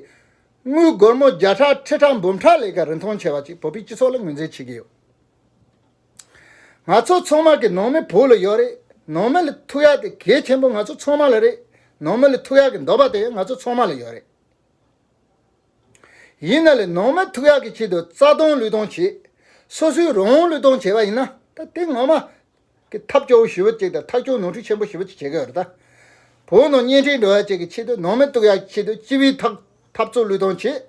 དངུལ་སྒོར་མོ་བརྒྱ་ཕྲག་ཁྲི་ཕྲག་འབུམ་ཕྲག་ལས་ཀ་རིན་ཐང་ཆེ་བ་ཅིག་བོད་པའི་སྤྱི་ཚོགས་ལ་ངོས་འཛིན་བྱེད་ཀྱི་ཡོད། ང་ཚོ་ཚོང་དམག་གིས་ནང་མི་བོད་ལ་ཡོད་རེད། ནང་མི་ལ་ཐུག་ཡག་དེ་གལ་ཆེན་པོ་ང་ཚོ་ཚོང་དམག་ལ་རེད། ནང་མི་ལ་ཐུག་ཡག་གི་འདོད་པ་དེ་ང་ཚོ་ཚོང་དམག་ལ་ཡོད་རེད། ཡིན་ན་ལས་ནང་མི་ཐུག་ཡག་གི་ཆེད་དུ་རྩ་སྟོང་ལུས་སྟོང་བྱེད། སོ་སོའི་རང་དབང་ལུས་སྟོང་བྱེད་པ་ཡིན་ན་ད་དེ་ངོ་མ། གི་ཐབས་སྐྱོ་བོ་ཞི་བུ་ཅིག་དང་ཐག་སྐྱོ་ནོར་འཁྲུལ་ཆེན་པོ་ཞི་བུ་ཅིག་བྱེད་ཀྱི་ཡོད་རེད་ད། བོད་ནང་གཉེན་འཕྲད་འགྲོ་ཡག་ཅིག་གི་ཆེད་དུ་ནང་མི་ཐུག་ཡག་གི་ཆེད་དུ་སྤྱི་བའི་ཐག། འཐབ་རྩོད་བློས་གཏོང་བྱེད།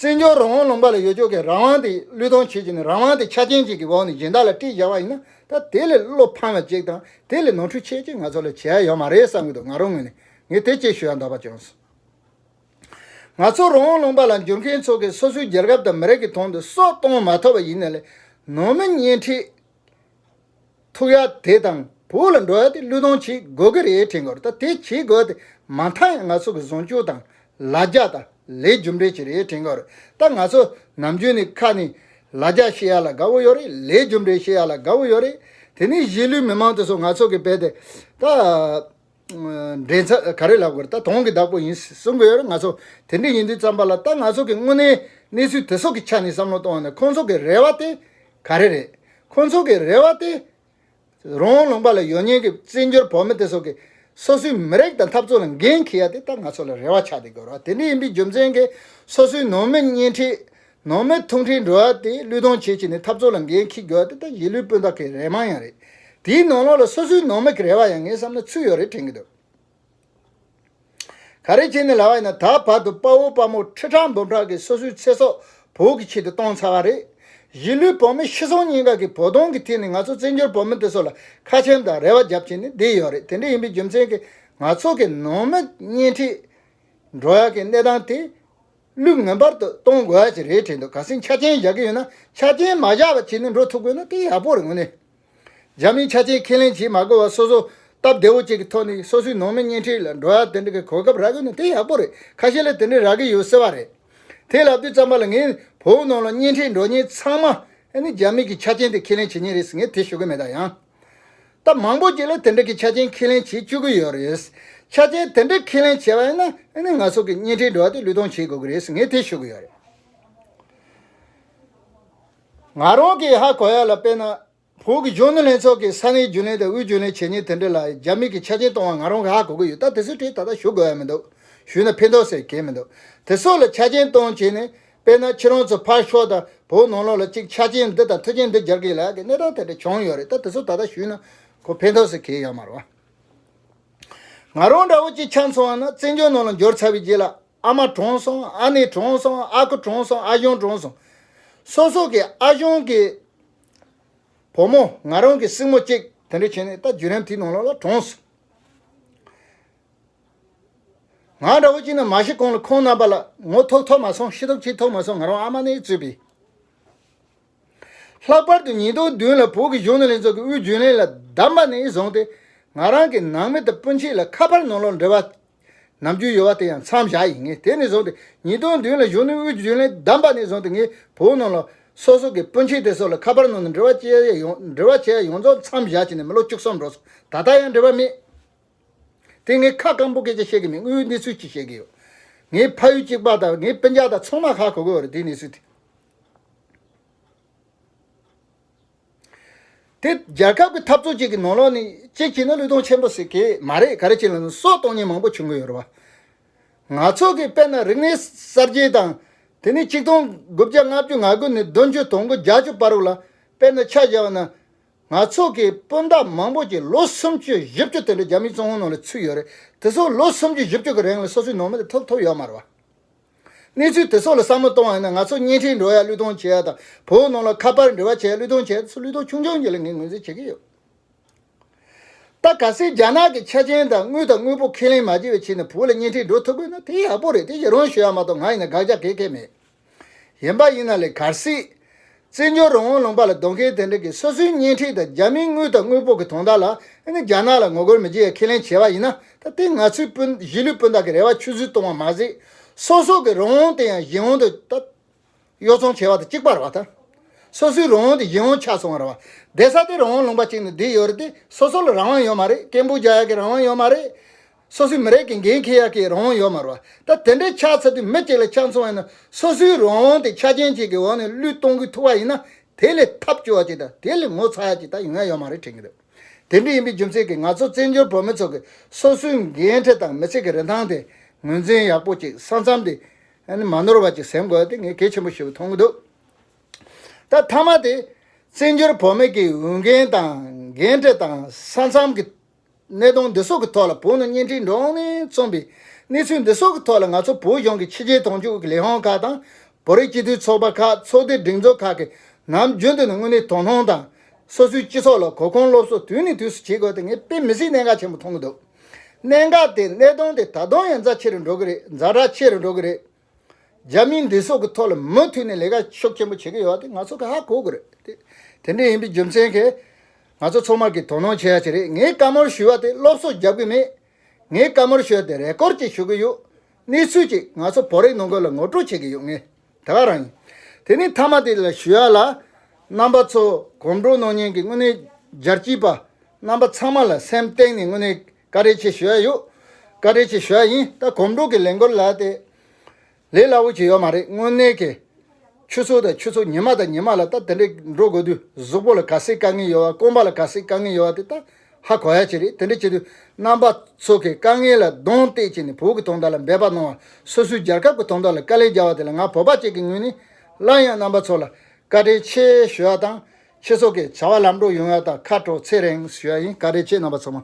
བཙན་བྱོལ་རང་དབང་ལུང་པ་ལ་ཡོད་ཆོག་གི་རང་དབང་དེ་བློས་གཏོང་བྱེད་ཀྱི་ནི་རང་དབང་དེ་ཆ་རྐྱེན་གཅིག་གི་འོག་ནས་སྦྱིན་བདག་ལ་སྤྲད་བཞག་པ་ཡིན་ན་ད་དེ་ལས་བློ་ཕམ་བ་གཅིག་དང་དེ་ལས་ནོར་འཁྲུལ་ཆེ་གཅིག་ང་ཚོ་ལ་བྱེད་ཡ་ཡོད་མ་རེད་བསམ་གྱི་འདུག་ང་རང་ངོས་ནས་ངས་དེ་སྐྱེད་ཞུ་ཡ་འདོད་པ་བྱུང་སོང། ང་ཚོ་རང་དབང་ལུང་པ་ལ་འཇུར་མཁན་ཚོ་གིས་སོ་སོའི་རྒྱལ་ཁབ་དང་མི་རིགས་ཀྱི་དོན་དུ་སྲོག་གཏོང་མ་ཐུབ་པ་ཡིན་ན་ལས་ནོར་མི་གཉེན་ཁྲིད། ཐུག་ཡ་དེ་དང་བོ་ལ་འགྲོ་ཡ་དེ་གླུད་སྡོང་བྱེད་དགོས་ཀྱི་རེད་དྲན་གོ་ད་དེ་བྱེད་དགོས་ཏེ་མ་མཐའ་ཡང་ང་ཚོ་གི་བཟུང་བཅུག་དང་ལ་རྒྱ་ད་ལས་རྒྱུ་འབྲས་ཅི་རེད་དྲན་གོ་རེད་ད་ང་ཚོ་ནམ་རྒྱུན་ནས་ཁ་ནས་ལ་རྒྱ་བཤད་ཡ་ལ་དགའ་བོ་ཡོད་རེད་ལས་རྒྱུ་འབྲས་བཤད་ཡ་ལ་དགའ་བོ་ཡོད་རེད་དེ་ནས་གཞིས་ལུས་མི་མང་དེ་ཚོ་ང་ཚོ་གི་བལ་དེ་ད། འདྲེན་ཚ་ག་རེ་ལབ་དགོས་རེད་ད་དོང་གི་བདག་པོ་ཡིན་གསུང་གི་ཡོད་རེད་ང་ཚོ་དེ་འདྲས་ཡིན་དུས་བརྩམས་པ་ལ་ད་ང་ཚོ་གི་དངོས་གནས་གནས་ཚུལ་དེ་སོགས་ཀྱི་ཆ་ནས་བསམ་བློ་གཏོང་བ་ནི་ཁོང་ཚོ་གི་རེ་བ་དེ་ག་རེ་རེད་ཁོང་ཚོ་གི་རེ་བ་དེ། རོང་བོ་ལུང་པ་ལ་ཡོད་ཉེན་གི་བཙན་བྱོལ་བོད་མི་དེ་སོགས་ཀྱི་སོ་སོའི་མི་རེག་དང་འཐབ་རྩོད་ལ་འགན་འཁི་ཡ་དེ་ད་ང་ཚོ་ལ་རེ་བ་ཆགས་དེ་དགོས་རེད་དེ་འདྲས་ཡིན་དུས་རྒྱུ་མཚན་གི་སོ་སོའི་ནང་མི་གཉེན་ཁྲི་ནང་མི་ཐུང་ཁྲིའི་འགྲོ་བ་དེ་ལུས་སྟོང་བྱེད་ཅིག་ནི་འཐབ་རྩོད་ལ་འགན་འཁྱི་དགོས་བ་དེ་ལྟ་ཞིག་ལུས་སྤུན་ཟླ་ཁའི་རེ་མང་ཡང་རེད། དེའི་ནང་ལོགས་ལ་སོ་སོའི་ནང་མི་གི་རེ་བ་ཡང་ངས་བསམ་ན་ཚུད་ཡོད་རེད་དྲན་གི་འདུག། ག་རེ་བྱས་ནས་ལ་བ་ཡིན་ན་ད་བར་དུ་དཔའ་བོ་དཔའ་མོ་ཁྲི་ཕྲག་འབུམ་ཕྲག་གིས་སོ་སོའི་ཚེ་སྲོག་བོད་ཀྱི་ཆེད་དུ་གཏོང་ཚར་བ་རེད། གཞིས་ལུས་བོད་མི་ཤི་སོང་གཉིས་ཀ་གི་བོ་དོང་གི་ཐིག་ནས་ང་ཚོ་བཙན་བྱོལ་བོད་མི་དེ་ཚོ་ལ་ཁ་ཆེམས་དང་རེ་བ་རྒྱབ་བྱེད་ནི་བསྡད་ཡོད་རེད་དེ་འདྲ་ཡིན་པའི་རྒྱུ་མཚན་གི་ང་ཚོ་གི་ནང་མི་གཉིས་ཁྲིའི་འགྲོ་བ་གི་གནས་སྟངས་དེ་ལུགས་ངན་པར་དུ་གཏོང་དགོས་ཡ་ཞིག་རེད་དྲན་འདུག་ག་སྲིད་ཆ་རྐྱེན་བཞག་གི་ཡོད་ན་ཆ་རྐྱེན་མ་བཞག་པ་བྱས་ནས་འགྲོ་ཐུབ་དགོས་ན་དེ་ཡག་པོ་རེད་ངོ་ནས་རྒྱ་མིས་ཆ་རྐྱེན་ཁས་ལེན་བྱེད་མ་དགོས་པར་སོ་སོ་སྟབས་བདེ་བོ་བཅས་ཀྱི་ཐོག་ནས་སོ་སོའི་ནང་མི་གཉེན་འཕྲད་ལ་འགྲོ་ཡ་དེ་འདྲ་གི་གོ་སྐབས་རག་དགོས་ན་དེ་ཡག་པོ་རེད་ཁ་ཤས་ལ་དེ་འདྲ་རག་གི་ཡོད་ཟེར་བ་རེད་དེ་ལབ་དུས་ཙམ་པ་ལ་ངས་བོད་ནང་ལ་གཉེན་འཕྲད་འགྲོ་ཉེན་ཚང་མ་ནི་རྒྱ་མིས་ཀྱི་ཆ་རྐྱེན་དེ་ཁས་ལེན་བྱེད་ཉེན་རེད་ཟེར་ངས་དེ་ཤོད་གི་མེད་ད་ཡང། སྟབས་མང་པོ་ཅིག་ལ་དེ་འདྲ་གི་ཆ་རྐྱེན་ཁས་ལེན་བྱེད་བཅུག་གི་ཡོད་རེད། ཆ་རྐྱེན་དེ་འདྲ་ཁས་ལེན་བྱས་པ་ཡིན་ན་ང་སོགས་ཀྱི་བརྙན་འཕྲིན་འགྲོ་བ་དེ་ལུས་སྟོང་བྱེད་དགོས་ཀྱི་རེད་ངས་དེ་ཤོད་ཀྱི་ཡོད་རེད། ང་རང་གིས་ཧ་གོ་ཡག་ལ་དཔེར་ན། བོད་ཀྱི་གཞོན་ནུ་ལྷན་ཚོགས་ཀྱི་ས་གནས་རྒྱུན་ལས་དང་དབུས་རྒྱུན་ལས་བྱས་ཉེས་དེ་འདྲ་ལ་རྒྱ་མིས་ཀྱི་ཆ་རྐྱེན་གཏོང་བ་ང་རང་གིས་ཧ་གོ་གི་ཡོད་ད་དེ་ཚོའི་གྲས་ད་ལྟ་ཞུ་དགོས་ཡ་མི་འདུག་ཞུས་ན་ཕན་ཐོགས་ཟེར་གྱི་མི་འདུག་དེ་སོགས་ལ་ཆ་རྐྱེན་གཏོང་བྱས་ནས་དཔེར་ན་ཁྱེད་རང་ཚོས་ཕར་ཞོག་ད་བོད་ནང་ལོགས་ལ་ཅིག་ཆ་རྐྱེན་འདི་དང་མཐུ་རྐྱེན་འདི་སྦྱར་གི་ལགས་ཀྱི་གནས་སྟངས་དེ་འདྲ་བྱུང་ཡོད་རེད་ད་དེ་ཚོ་ད་ལྟ་ཞུས་ན་ཁོ་ཕན་ཐོགས་སུ་གྱེས་ཡོད་མ་རེད་བ། ང་རང་འདྲ་བོ་ཅིག་ཆ་འཚོ་བ་ན་བཙན་བྱོལ་ནང་ལ་འབྱོར་ཚར་བའི་རྗེས་ལ་ཨ་མ་གྲོངས་སོང་ཨ་ནེ་གྲོངས་སོང་ཨ་ཁུ་གྲོངས་སོང་ཨ་གཞོན་གྲོངས་སོང། སོ་སོ་གི་ཨ་གཞོན་གི་བུ་མོ་ང་རང་གི་སྲིང་མོ་གཅིག་དེ་འདྲ་བྱས་ནས་ད་བརྒྱུད་རིམ་དེའི་ནང་ལོགས་ལ་གྲོངས་སོང། ང་འདྲ་བོ་གཅིག་ནི་མ་ཤི་གོང་ལ་ཁོང་རྣམ་པ་ལ་ངོ་ཐོག་ཐོག་མ་སོང་ཤི་ཐོབ་ཅིག་ཐོབ་མ་སོང་ང་རང་ཨ་མ་ནས་བཙུད་པས། ལྷག་པར་དུ་ཉིན་ཐོག་བདུན་ལ་བོད་ཀྱི་གཞུང་ནང་ལྷན་ཚོགས་ཀྱི་དབུས་རྒྱུན་ལས་ལ་བདམས་པ་ནས་བཟུང་སྟེ་ང་རང་གི་ནང་མི་དང་སྤུན་མཆེད་ལ་ཁ་ཕར་ནང་ལོག་འབྲེལ་བ་ནམ་རྒྱུན་ཡོད་བ་དེ་ཡང་མཚམས་བཞག་ཡིན་ངེས་དེ་ནས་བཟུང་སྟེ་ཉིན་ཐོག་བདུན་ལ་གཞུང་ནས་དབུས་རྒྱུན་ལས་བདམས་པ་ནས་བཟུང་སྟེ་ངས་བོད་ནང་ལ་སོ་སོ་གི་སྤུན་མཆེད་དེ་སོགས་ལ་ཁ་ཕར་ནང་ལོག་འབྲེལ་བ་བྱས་ཡོངས་རྫོགས་མཚམས་བཞག་བྱས་ནས་མི་ལོ་བཅུ་གསུམ་འགྲོ་སོང་ད་ལྟ་ཡང་འབྲེལ་བ་མེད། དེ་ངས་ཁ་སྐམ་པོ་སྐད་ཆ་བཤད་གི་མིན་དངུལ་གནས་ཚུལ་གྱིས་བཤད་གི་ཡོད། ངའི་ཕ་ཡུལ་གཅིག་པ་དང་ངའི་དཔེ་འཇག་དང་ཚོང་མ་ཁག་གོ་གི་ཡོད་རེད་དེའི་གནས་ཚུལ་དེ། དེ་རྒྱལ་ཁབ་ཀྱི་འཐབ་རྩོད་ཅིག་གི་ནང་ལོག་ནས་ཅིག་བྱས་ན་ལུས་སྟོང་ཆེན་པོ་ཟིག་གི་མ་རེད་ག་རེ་བྱས་ན་ནི་སྲོག་གཏོང་ཉེན་མང་པོ་བྱུང་གི་ཡོད་རེད་བ། ང་ཚོ་གི་དཔེར་ན་རིག་གནས་གསར་བརྗེ་དང། དེ་ནས་གཅིག་སྟོང་དགུ་བརྒྱ་ལྔ་བཅུ་ང་དགུ་ནས་བདུན་ཅུ་དོང་དགུ་བརྒྱ་ཅུ་བར་ལ་དཔེར་ན་ཆ་བཞག་ན། ང་ཚོ་གི་སྤུན་ཟླ་མང་པོ་ཀྱི་ལོ་སུམ་ཅུའི་བཞི་བཅུ་དེ་ལོ་བརྒྱ་མིག་བཙུམ་ངོ་ནང་ལ་ཚུད་ཡོད་རེད་དེ་སོགས་ལོ་སུམ་ཅུ་བཞི་བཅུ་གི་རིང་ལ་སོ་སོའི་ནང་མི་དེ་ཐོབ་ཐོབ་ཡོད་མ་རེད་བ། གནས་ཚུལ་དེ་སོགས་ལ་བསམ་བློ་གཏོང་བ་ཡིན་ན་ང་ཚོ་གཉེན་ཁྲིད་འགྲོ་ཡ་གླུད་གཏོང་བྱེད་ཡ་དང་བོད་ནང་ལ་ཁ་པར་འབྲི་བ་བྱེད་ཡ་གླུད་གཏོང་བྱེད་ཡ་དེ་སོགས་གླུད་གཏོང་ཆུང་ཆུང་གྱི་ལ་ངས་ངོས་འཛིན་བྱེད་ཀྱི་ཡོད། ད་ག་སེ་རྒྱ་ནག་གི་ཆ་ཅན་དང་དངུལ་དང་དངུལ་པོ་ཁས་ལེན་མ་བྱེད་པའི་ཆེད་ནས་བོད་ལ་གཉེན་ཁྲིད་འགྲོ་ཐུབ་དགོས་ན་དེ་ཡག་པོ་རེད་དེ་ཡི་རང་ཞུ་ཡ་མ་གཏོགས་ང་ཡིན་ན་དགག་བྱ་གེགས་གེགས་མེད། གཞན་པ་ཡིན་ན་ལས་གར་སྲིད། བཙན་བྱོལ་རང་དབང་ལུང་པ་ལ་སྡོད་མཁན་དེ་འདྲ་གིས་སོ་སོའི་གཉེན་ཁྲིག་དང་རྒྱ་མིའི་དངུལ་དང་དངུལ་ཕོག་གི་དོན་དག་ལ་ནི་རྒྱ་ནག་ལ་ངོ་རྒོལ་མི་བྱེད་ཡ་ཁས་ལེན་བྱས་པ་ཡིན་ན་ད་ལྟའི་ང་ཚོའི་སྤུན་གཞིས་ལུས་སྤུན་དག་གི་རེ་བ་ཆུད་ཟོས་གཏོང་བ་མ་ཟད། སོ་སོ་གི་རང་དབང་དེ་ཡང་གཞན་དབང་དུ་ད་གཡོ་བཙོང་བྱས་པ་དང་གཅིག་པར་བ་ད། སོ་སོའི་རང་དབང་དེ་གཞན་དབང་ཆགས་སོང་བར་བ། འདས་ས་དེ་རང་དབང་ལུང་པ་གཅིག་ནི་འདི་ཡོད་རེད་དེ་སོ་སོ་ལ་རང་དབང་ཡོད་མ་རེད་ཀན་པུའུ་རྒྱ་ཡག་གི་རང་དབང་ཡོད་མ་རེད། སོ་སོའི་མི་རིགས་ཀྱི་འགན་འཁྱེར་ཡག་གི་རང་དབང་ཡོད་མ་རུང་བ། ད་དེ་འདྲའི་ཆགས་ཚར་དུས་མི་གཅིག་ལ་ཆགས་མཚུངས་བ་ཡིན་ན་སོ་སོའི་རང་དབང་དེ་ཆ་རྐྱེན་གཅིག་གི་འོག་ནས་བློས་གཏོང་གི་ཐུག་བ་ཡིན་ན་དེ་ལས་ཐབས་སྐྱོ་བ་གཅིག་དང་དེ་ལས་ངོ་ཚ་ཡག་གཅིག་ད་ཡིན་ང་ཡོད་མ་རེད་དྲན་གི་འདུག་དེ་འདྲ་ཡིན་པའི་རྒྱུ་མཚན་གྱིས་ང་ཚོ་བཙན་བྱོལ་བོད་མི་ཚོ་གི་སོ་སོའི་འགན་འཁྲི་དང་མི་ཚེ་གི་རིན་ཐང་དེ་ངོས་འཛིན་ཡག་པོ་གཅིག་ས་མཚམས་དེ་མ་ནོར་བ་གཅིག་ཟིན་དགོས་དེ་ངས་གལ་ཆེན་པོ་ཞིག་མཐོང་གི་འདུག་ད་མཐའ་མ་དེ་བཙན་བྱོལ་བོད་མི་གི་འོས་འགན་དང་འགན་འཁྲི་དང་ས་མཚམས་གི་གནད་དོན་འདི་སོགས་ཀྱི་ཐོག་ལ་བོད་ནང་བརྙན་འཕྲིན་འགྲོ་འོང་ནས་མཚོན་པའི་གནས་ཚུལ་འདི་སོགས་ཀྱི་ཐོག་ལ་ང་ཚོ་བོད་གཞུང་གི་ཕྱི་རྒྱལ་དོན་གཅོད་ཀྱི་ལས་དབང་ཁག་དང། བོད་རིགས་སྤྱི་འཐུས་ཚོགས་པ་ཁག་ཚོགས་སྡེ་སྒྲིག་འཛུགས་ཁག་གིས་ནམ་རྒྱུན་དུ་ནི་དངོས་གནས་དོ་སྣང་དང། སོ་སོའི་སྤྱི་ཚོགས་ལ་གོ་སྐོན་སློབ་གསོ་དུས་ནས་དུས་སུ་བྱེད་དགོས་དེ་ངས་དཔེ་མི་སྲིད་གནད་འགག་ཆེན་པོ་མཐོང་གི་འདུག་གནད་འགག་དེ་གནད་དོན་དེ་ད་དུང་ཡང་རྫ་ཆེ་རུ་འགྲོ་གི་རེད་རྫ་དྲག་ཆེ་རུ་འགྲོ་གི་རེད། རྒྱ་མིའི་འདི་སོགས་ཀྱི་ཐོག་ལ་མུ་མཐུད་ནས་ལས་ཀ་ཤུགས་ཆེན་པོ་བྱེད་ཀྱི་ཡོད་དེ་ང་ཚོ་ཁ་ཧ་གོ་དགོས་རེད་དེ། དེ་འདྲའི་ཡིན་པའི་རྒྱུ་མཚན་གྱིས། ང་ཚོ་ཚང་མར་གྱིས་དོ་སྣང་བྱེད་ཡ་ཆེ་རེད་ངས་བཀའ་མོལ་ཞུ་བ་དེ་སློབ་གསོ་རྒྱབ་གི་མེད། ངས་བཀའ་མོལ་ཞུ་བ་དེ་རེས་སྐོར་ཅིག་ཞུ་གི་ཡོད། གནས་ཚུལ་གཅིག་ང་ཚོ་བོད་རིགས་ནང་ཁུལ་ལ་ངོ་སྤྲོད་བྱེད་ཀྱི་ཡོད་ངེས་ད་ག་རང་ཡིན། དེ་ནི་མཐའ་མ་དེ་ལ་ཞུ་ཡ་ལ། རྣམ་པ་ཚོ་གོམ་བགྲོད་གནང་ཉེན་གྱི་དངོས་གནས་རྒྱལ་སྤྱིའི་པ། རྣམ་པ་ཚང་མ་ལ་སེམས་གཏིང་ནས་དངོས་གནས་བཀའ་དྲིན་ཆེ་ཞུས་ཡོད། བཀའ་དྲིན་ཆེ་ཞུས་ཡིན་ད་གོམ་འགྲོ་གི་ལས་འགོ་ལ་དེ་ལས་སླ་བོ་ཅིག་ཡོད་མ་རེད་དངོས་གནས་ཀྱི་ཆུ་ཚོད་དང་ཆུ་ཚོད་ཉི་མ་དང་ཉི་མ་ལ་ད་དེ་འདྲའི་འགྲོ་དགོས་དུས་གཟུགས་པོ་ལ་ག་སེ་དཀའ་ངལ་ཡོད་བ་སྐོམ་པ་ལ་ག་སེ་དཀའ་ངལ་ཡོད་བ་དེ་ད་ཧ་གོ་ཡ་ཅིག་རེད་དེ་འདྲ་བྱེད་དུས་རྣམ་པ་ཚོ་གི་དཀའ་ངལ་ལ་གདོང་གཏད་ཅིག་ནས་བོད་ཀྱི་དོན་དག་ལ་འབད་པ་གནང་བ་སོ་སོའི་རྒྱལ་ཁབ་ཀྱི་དོན་དག་ལ་དཀའ་ལས་རྒྱག་བ་དེ་ལ་ང་བོད་པ་གཅིག་གི་ངོས་ནས་སླར་ཡང་རྣམ་པ་ཚོ་ལ་བཀའ་དྲིན་ཆེ་ཞུས་ཡ་དང་ཁྱེད་ཚོ་གི་བྱ་བ་ལམ་འགྲོ་ཡོང་ཡ་ད་ཁ་དྲོ་ཚེ་རིང་ཞུས་ཡ་ཡིན་བཀའ་དྲིན་ཆེ་རྣམ་པ་ཚང་མ།